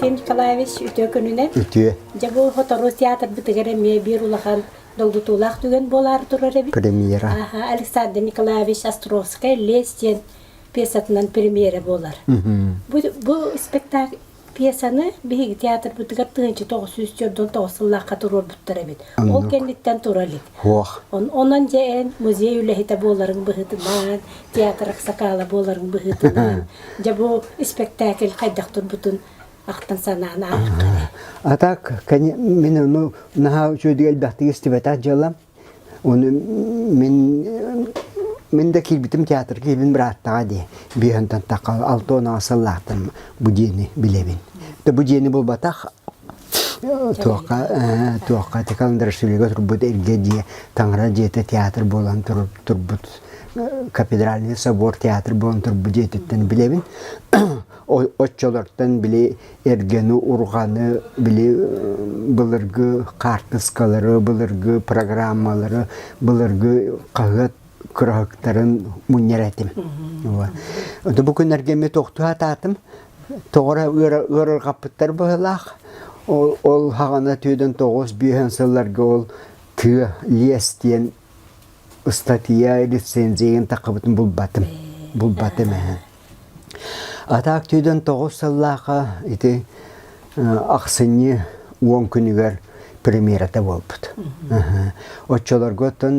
Финн Николаевич үтүө күнүнэн. Үтүө. Дьэ бу сотору театрбытыгар эмиэ биир улахан долгутуулаах түгэн буолаар турар эбит. Премьера. Аха, Александр Николаевич Островская Лес диэн пьесатынан премьера буолар. Бу, бу спектакль Пьесаны биһиги театрбытыгар тыһыынча тоҕус сүүс сөрдөн тоҕус сыллаахха туруорбуттар эбит. Ол кэнниттэн тура илик. Онон дьэ эн музей үлэһитэ буоларыҥ быһыытынан, театр аксакаала буоларыҥ быһыытынан, дьэ бу испэктээкил хайдах турбутун ахтан санаан ааспыт. А так, мин ону наһаа үчүгэйдик элбэхтик истибэтэх дьыалам. Оны мин мин да киирбитим театр киирбин бырааттаҕа дии биэһэнтэн тахха алта уонааҕы сыллаахтан бу дьиэни билэбин. Да бу дьиэни булбатах туохха туохха ити Каландарашвилига турбут Иргэ дьиэ таҥара дьиэтэ театр буолан турбут кафедральный собор театр буолан турбут дьиэтиттэн билэбин оччолортон били эргэни, урҕаны, били былыргы хаартыскалары, былыргы программалары, былыргы хаһыат кыраһыктарын мунньар этим. Ону бу күннэргэ эмиэ тохтуу атаатым. Тоҕора ыарырҕаппыттар быһылаах. Ол хаҕана түйден тоҕус биэһэн сылларга ол тыа лиэс диэн ыстатыйа рецензиябын таххыбытын булбатым булбатым эһэ атаак түйдөн тоҕус сыллаахха ити ахсынньы уон күнүгэр премьерата буолбут оччолорго оттон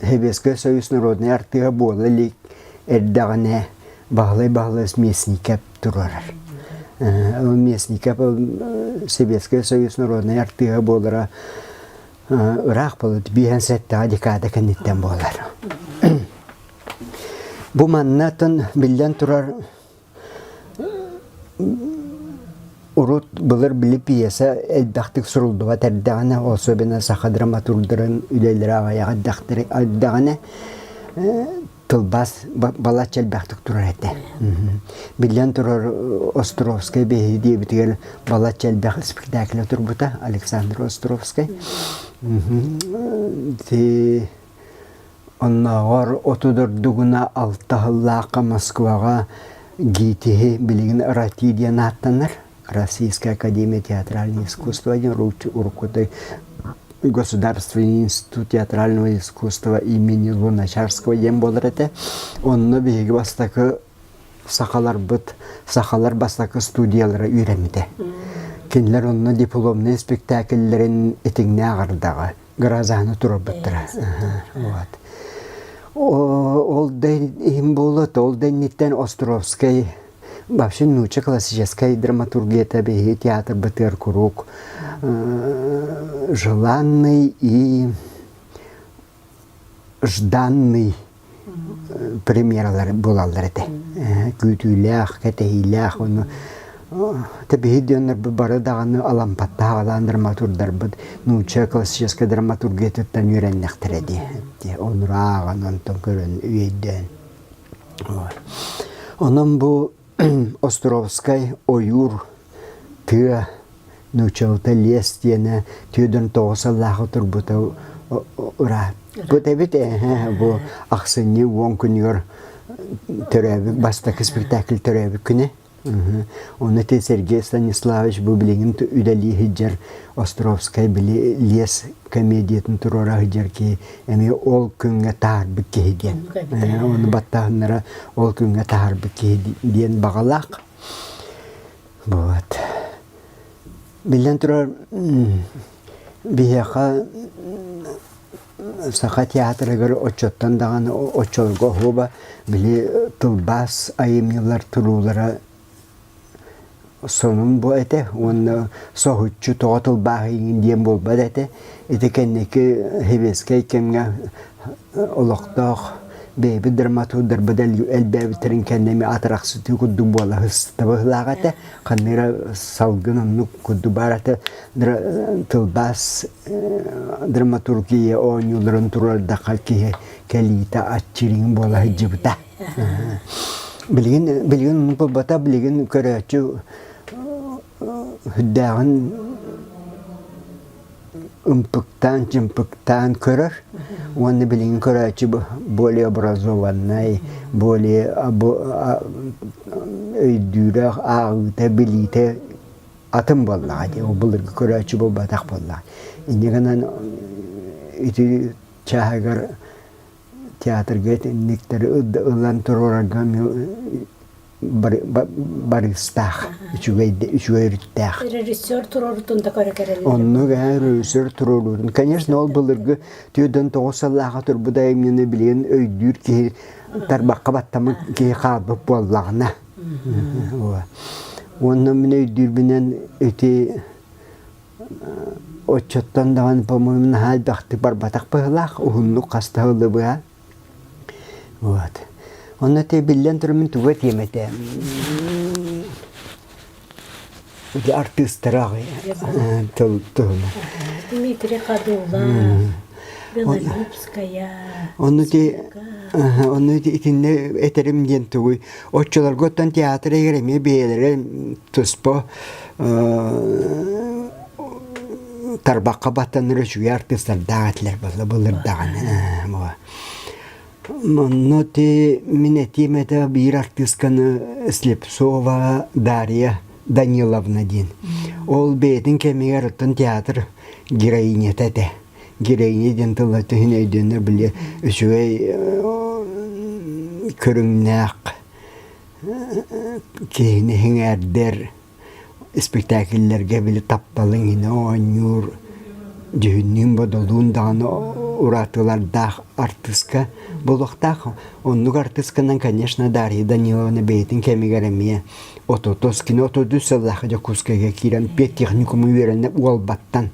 Сэбиэскэй Союз народнай артыыһа буола илик эрдэҕинэ Баһылай Баһылай Смесников туруорар Смесников Сэбиэскэй Союз народнай артыыһа буолара ыраах былыт биэһэн сэттэҕэ декада кэнниттэн буолар. Бу маннатын биллэн турар урут былыр били пьеса элбэхтик суруллубат эрдэҕинэ, особенно саха драматурдарын үлэлэрэ аҕай ардахтары ардаҕына тылбаас балачча элбэхтик турар этэ. Биллэн турар, Островскай биһиги диэбитигэр балачча элбэх спектакль турбута Александр Островскай. Оннооҕор оту дордугуна алта сыллаахха Москваҕа ГИТИһи билигин РАТИ диэн ааттанар. Российская академия театральных искусств Иркутской государственный институт театрального искусства имени Луначарского диэн буолар этэ. Онно биһиги бастакы сахаларбыт, сахалар бастакы студиялара үүрэммитэ. Кинилэр онно дипломнай спектакльлэрин итиҥнээх ардаҕа Гразаны турарбыттара. Ол да иһин буолат, ол да инниттэн Островскай вообще нуча классическая драматургията биһиги театрбытыгар куруук желанный и жданный премьералар буолаллар этэ күүтүүлээх кэтэһиилээх ону тэбиһи диэннэрбит бары даҕаны алампаттаахалаан драматурдарбыт нуучча классическай драматургиятыттан үөрэннэхтэрэ дии онурааҕын онтон көрөн үөйдөөн Онон бу Островскай ойуур тыа нууччалыта лес диэнэ түүрдэн тоҕус сыллааҕы турбута ырааппыт эбит эһэ бу ахсынньы уон күнүгэр төрөөбүт бастакы спектакль төрөөбүт күнэ Ону ити Сергей Станиславович бу билигин үлэлии сылдьар Островскай били лес комедиятын туруора сылдьар киһи эмиэ ол күҥҥэ таһаарбыт киһи диэн. Ону баттаһыннара ол күҥҥэ таһаарбыт киһи диэн баҕалаах. Буолат. Биллэн турар биһиэхэ Саха театрыгар оччоттон даҕаны оччолорго оһуоба били тылбаас айымньылар туруулара сонун буо этэ уонна соһуччу тоҕо тылбааһыйыҥ диэн буолбат этэ. Ити кэнники сэбиэскэй кэмҥэ олохтоох бэйэбит драматурдарбыт элбээбиттэрин кэннэ эмиэ атырахсытыы курдук буола сыстыба ыһылаах этэ. ханныра салгын оннук курдук баарата тылбаас драматургия оонньууларын турардахха киһи кэлиитэ аччырыын буола сылдьыбыта билигин билигин булбата билигин көрөөччү хүддээҕин ымпыктаан, чымпыктаан көрөр уонна билигин көрөөччү более образованнай, более өйдүүрэх, ааҕыыта, билиитэ атын буоллаҕа дии. Ол былыргы көрөөччү буолбатах буоллаҕа. Инньэ гынан ити чааһыгар театрга итинниктэр ылан туруорарга барыыстаах, үчүгэй, үчүгэй өрүттээх. Режиссер туруорутун да көрө кэрэллэр. Оннук ээ, режиссер туруоруурун. Конечно, ол былыргы түөртэн тоҕус сыллааҕа турбут айымньыны билигин өйдүүр киһи тарбахха баттаммыт киһи хаалбыт буоллаҕына. Уонна мин өйдүүрбүнэн ити оччоттон даҕаны, по-моему, наһаа элбэхтик барбатах быһылаах, уһуннук хаста ылы быһа. Вот. Онно те биллэн туран мин туга тиэм этэ для артыыстара тыл туһунан. Дмитрий Хадулла, Белолюбская. Онну те онну итинне этерим диэн тугуй. Оччолорготтон театр эгер эмиэ бэйэлэрэ туспа тарбахха баттанар үчүгэй артыыстардаах этилэр буолла былырдаҕына манна ти мин этием это биир артыысканы слепцова дарья даниловна диэн ол бэйэтин кэмигэр оттон театр героинята этэ героиня диэн тылла түһүн өйдөөннөр били үчүгэй көрүҥнээх киһини иҥээрдэр испэктээкиллэргэ били тапталыҥ иһинэ оонньуур, дьүһүннүүн, бодолуун даҕаны уратылардаах артыыска буолуохтаах. Оннук артыысканан, конечно, Дарья Даниловна бэйэтин кэмигэр эмиэ Ототоскина, отодус сыллаах Дьокуускайга киирэн биотехникуму үөрэнэ Уолбаттан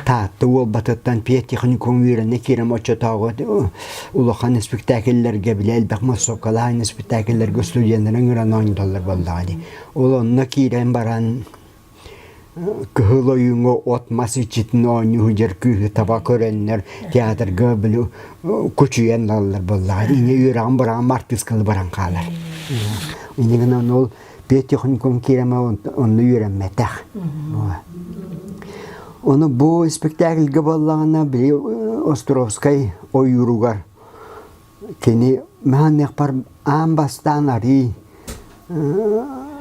Таатта Уолбатыттан пиетехникум үөрэнэ киирэн оччотооҕу улахан испэктээкиллэргэ били элбэх муссуокалаах испэктээкиллэргэ студеннэрин ыҥыран оонньууллар буоллаҕа дии. Ол онно киирэн баран кыһыл ойууҥҥа от-мас иччитин оонньуур күүһү таба көрөннөр театрга били кучуйан ылаллар буоллаҕа. Иньэ үөрэҕин быраҕан артыысканы баран хаалар. Иннигинэн ол Петехникум киирэмэ онно үөрэммэтэх. Ону бу спектакльга боллаҕына били Островскай ойууругар кини маханыахпар аан бастаан арыый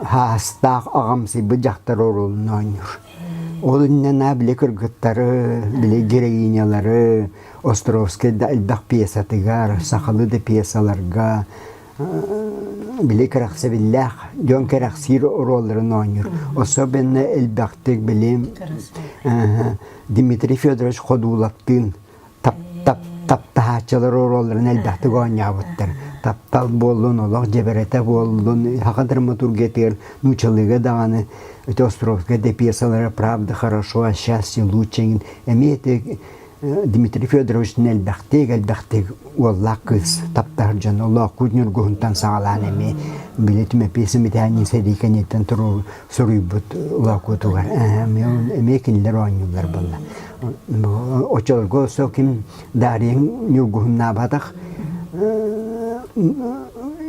хаастаах аҕамсыйбыт дьахтар орулун оонньуур. Ол иннинэ били кыргыттары, били героинялары Островскай да элбэх пьесатыгар, сахалы да пьесаларга били кэрэхсэбиллээх дьон кэрэхсиир оруолларын оонньуур. Особенно элбэхтик билим Дмитрий Федорович Ходуловтыын таптаһааччылар оруолларын элбэхтик оонньообуттар. Таптал буоллун, олох дьэбэрэтэ буоллун, саха драматургиятыгар нуучалыыга даҕаны эти Островская пьесалара «Правда хорошо, а счастье лучше» эмиэ Дмитрий Федорович элбэхтик-элбэхтик уоллаах кыыс таптаһар дьон Олоокуут Ньургуһунтан саҕалаан эмиэ били түмэпиэсэ мэтээниин сэрии кэниэттэн суруйбут Олоокуутугар эмиэ кинилэр оонньуулар буолла. Оччолорго сол ким Дариең Ньургуһун наабатах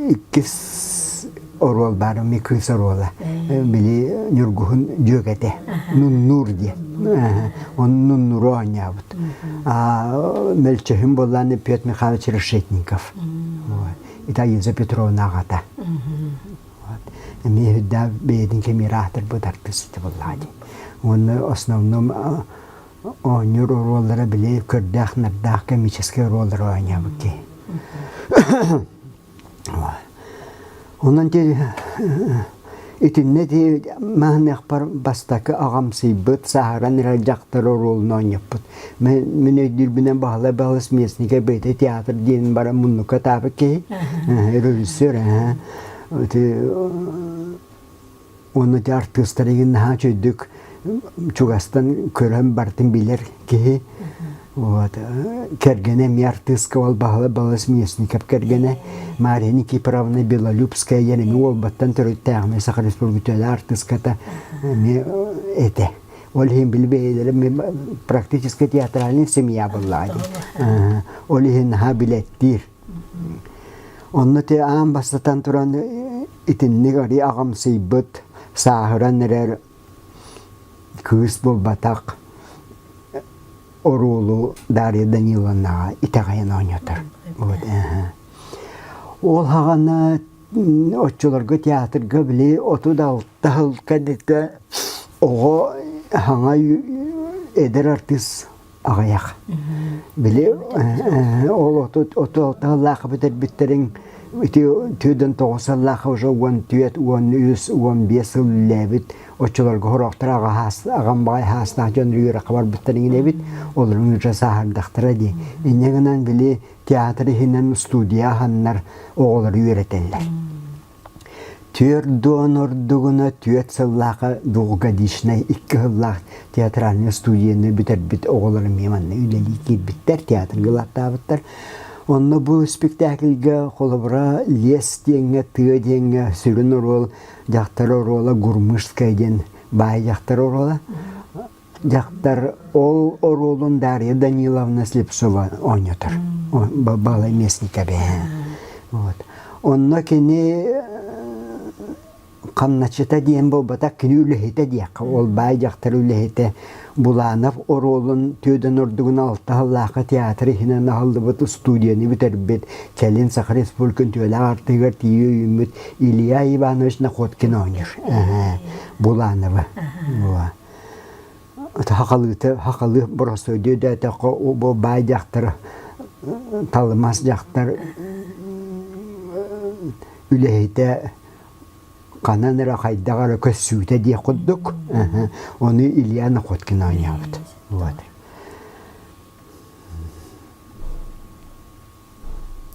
иккис оруол баар, ми кыыс оруола. Били Ньургуһун дьүөгэтэ Нуннуур диэн. Он Нуннуру оонньообут. Мөлчөһүн боллаан Петр Михайлович Решетников. Италина Петровна аҕата. Эмиэ үрдэ бэйэтин кэмиир аатырбыт артыыста буллаadi. Уонна основном оонньуур оруоллара били көрдөөх-нардаах комический оруоллары оонньообут Онон дии итиннэ дии мааныахпар бастакы аҕамсыйбыт, сааһыран эрэр дьахтар оруолун оонньоппут. Мин мин өйдүүрбүнэн Баһылай Баһылас Местнигэ бэйэтэ театр диэн баран муннукка атаабыт киһи, режиссер, Уонна ити артыыстар игин наһаа үчүйдүк чугастан көрөн бартын билэр киһи вот кэргэнэ эмиэ артыыска ол баһыла балыс Местников кэргэнэ Мария Никифоровна Белолюбская диэн эмиэ уолбаттан төрүттээхмэ Саха Республиката артыыската эмиэ этэ ол иһин били бэйэлэрим практически театральный семья буллаа ол иһин наһаа билэттиир Онно ити аан бастатан туран итинник арый аҕамсыйбыт, сааһыран эрэр кыыс буолбатах оруолу Дарья Даниловнаҕа итэҕэйэн оонньотор. Вот, эһэ. Ол хаҕана оччолорго театрга били оту да алта хыл кэнитэ оҕо хаҥай эдэр артыыс аҕыйах. Били ол оту таллаахы бүтэрбиттерин түүдэн тоҕус сыллаах уже уон түөрт уон үс уон биэс сыл үллээбит оччолорго хороохтора аҕам баҕай хаастаах дьон үөрэххэ барбыттарын инэбит олорун үчэ сааһардахтара дии инньэ гынан били театр иһинэн студия аһаннар оҕолору үөрэтэллэр Түөрт дуон ордугуна түөрт сыллаахха двухгодичнай икки сыллаах театральнай студияны бүтэрбит оҕолорум эмиэ манна үлэлии киирбиттэр, театрга ылаттаабыттар. Онно бу спектакльга холобура лес диэҥҥэ, тыа диэҥҥэ сүрүн оруол дьахтар оруола Гурмышская диэн баай дьахтар оруола. Дьахтар ол оруолун Дарья Даниловна Слепцова оонньотор. Балай местника бэһээн. Вот. Онно кини хамначыта диэн буолбатах кини үлэһитэ диэххэ ол баай дьахтар үлэһитэ Буланов оруолун Түөдэн Ордугун алта сыллаахы театр иһинэн аһыллыбыт устудияны бүтэрбит кэлин Саха Республикатын түөлээх артыгар тиийэ үүммүт Илья Иванович Находкин оонньуур Булановы. Сахалыы сахалыы боросоидуя дээтэххэ бу баай дьахтар талымас дьахтар үлэһитэ ханан эрэ хайдах эрэ көссүүтэ диэх курдук ону Илья Находкин оонньообут. Вот.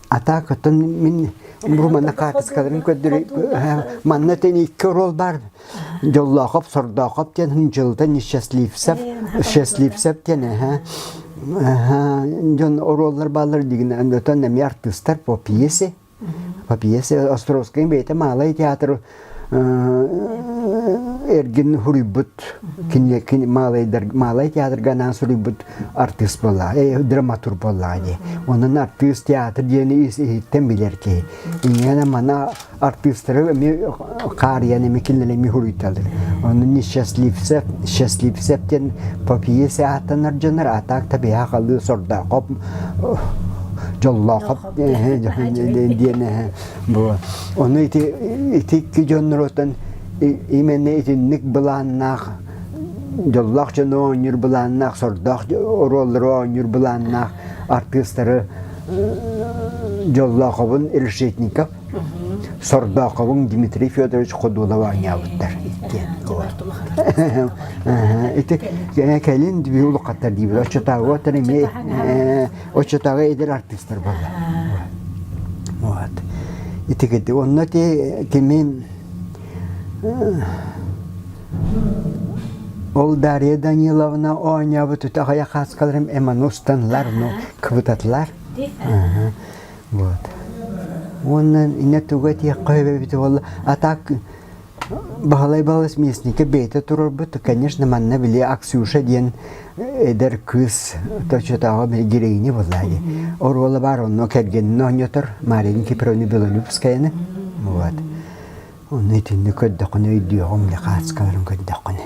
А так оттон мин Бруманы хаартыскаларын көрдөрү манна тэнийикке орол баар Дьоллоохоп, Сордоохоп диэн Дьылдан Счастливцев, Счастливцев диэн эһэ дьон оруоллар баалар дигинэн отон эмиэ артыыстар по пьесе по пьесе Островскай бэйэтэ Маалай театр эргин суруйбут киниэки маалай театрга анаан суруйбут артыыс буолла драматург буолла ди онон артыыс театр диэни иһиттэн билэр киһи инээнэ мана артыыстары эми хаарыйан эми кинилэр эми суруйталар онон несчастливцев счастливцев диэн попие сааттанар дьонор атак табиха халыы сордоохоп дьоллоохоп диэн Ону ити икки дьоннорутан именно итинник былааннаах дьоллоох дьону оонньуур былааннаах, сордоох оруоллары оонньуур былааннаах артыыстары Дьоллоохобун Решетников, Сордоохобун Дмитрий Федорович Ходулов оонньообуттар иккиэн. Ити кэлин биһи улахаттар диибит, оччотааҕыга эмиэ оччотооҕу эдэр артыыстар буолла. Вот. Итигити. Онно ти тимин Ол Дарья Даниловна оонньообут үтө аҕыйах хааскаларым эман устанларну кыбытатлар. Вот. Оннан ине туга тиэх қойбебит болла. А так Баһылай Баһылай Смесникэ бэйэтэ туруорбут, конечно, манна били Аксюша диэн эдэр кыыс точнотооҕу героиня буолла дии. Оруола баар онно кэргэнин оонньотор Мария Кипровна Белолюбскаяны. Вот. Ону итинник көрдөххүнэ өйдүөҕүҥ, ле хаацкаларын көрдөххүнэ.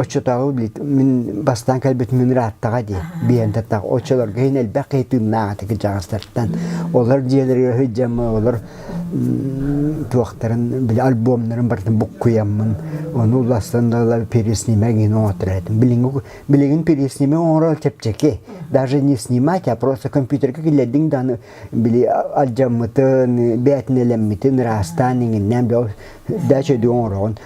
оччотооҕу билит мин бастаан кэлбит мин ырааттаҕа дии биендаттаах оччолорго иһин элбэх кыйтыыннаах ити кырдьаҕастартан олор дьиэлэригэр сылдьаммын олор туохтарын били альбомнарын барытын буккуйаммын ону улаастан да переснимэ гин оҥотор этим билигин билигин переснимэ оҥорор чэпчэки даже не снимать а просто компьютерга киллэрдиҥ да аны били алдьаммытын бээтинэлэммитин ыраастаан иҥиннээн бэл дача оҥороҕун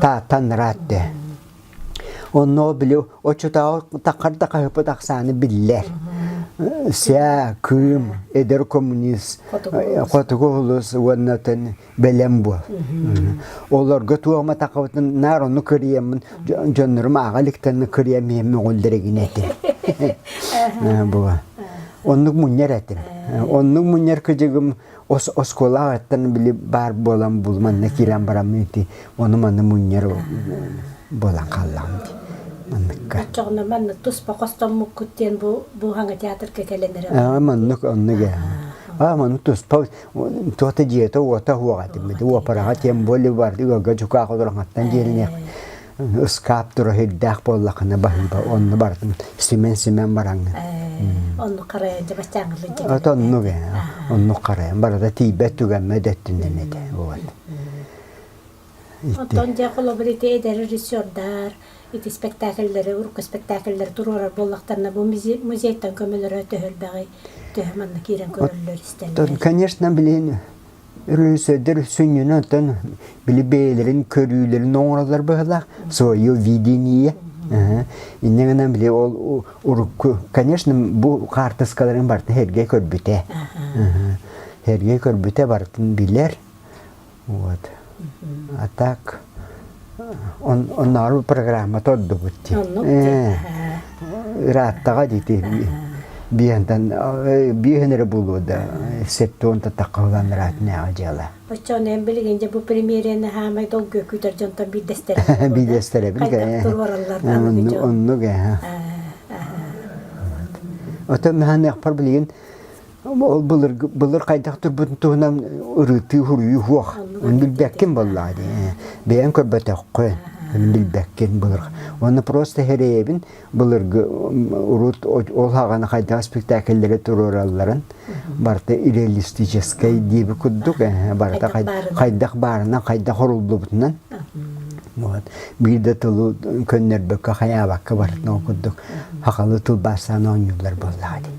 тааттанраат дэ онно били очутааҕы такар да хаһыппыт ахсааны биллэр ся кыым эдэр коммунист хотугу улус уонна атын бэлэм буол олорго туома такабытын наар ону кыриеммын дьоннорум ааҕа иликтенни кырием иһимми оҕулдэригин этим була оннук мунньар этим оннук мунньар кыдьыгым оскуолаҕыттан били баар буолан бул манна киирэн бараммын ити ону маны мунньар буолан хааллаҕым дии манныкка оччоҕуна манна туспа хостоммуккут диэн бу бууһаҥа театрга кэлэн эрэ аа маннык оннук ээ а маны туспа туота дьиэте уота уоҕа этиммит уопараҕа тем более бар ыга дьукаах олорохаттан диэниэх ыскаап тура сирдээх буоллахына баһыыба онно барытын симэн-симэн бараҥҥын онну харайан дьэ бастаангылы от оннук э оннук харайан барата тиийбэт түгэммэ дэттинен этэ буолан оттон дьэ холобур ити эдэр режиссердар ити спектакльлэри урукку спектакльлэри туруорар буоллахтарына бу музейтан көмөлөрө төһөлбэҕи төһө манна киирэн көрөллөр истэллэр конечно блин Рыцарьдар сүнньүнэн били бэйэлэрин көрүүлэрин оҥороллор быһыылаах свое видение иннэ гынан били ол урукку конечно бу хаартыскаларын барыта эргэ көрбүтэ эргэ көрбүтэ барытын билэр вот а так Оннооҕор программата ордубут дии. Ырааттаҕа дии биэһин эрэ булуо да септуонта таххаллан ыраатынааҕа дьыала. Оччоҕуна эн билигин дьэ бу премьерэни хаамай долгуйа күүтэр дьонтон биирдэстэрэ. Биирдэстэрэбин. Хайдах оннук ээ. Оттон хаһаныахпар билигин Былыр хайдах турбутун туһунан ырытыы, уруйуу суох. Оны билбэккин буоллаа дии. Бэйэн көрбөтөххө, оны билбэккин былыр. Оны просто хереебин былыргы урут ол хагана хайдах спектакльлери туруоралларын барта реалистическай диэби курдук барта хайдах баарынан хайдах оруллубутунан вот биирде тылы көннөрбөккө хаyaабакка бартынан курдук хахалы тылбаастаан оонньуулар буоллаа дии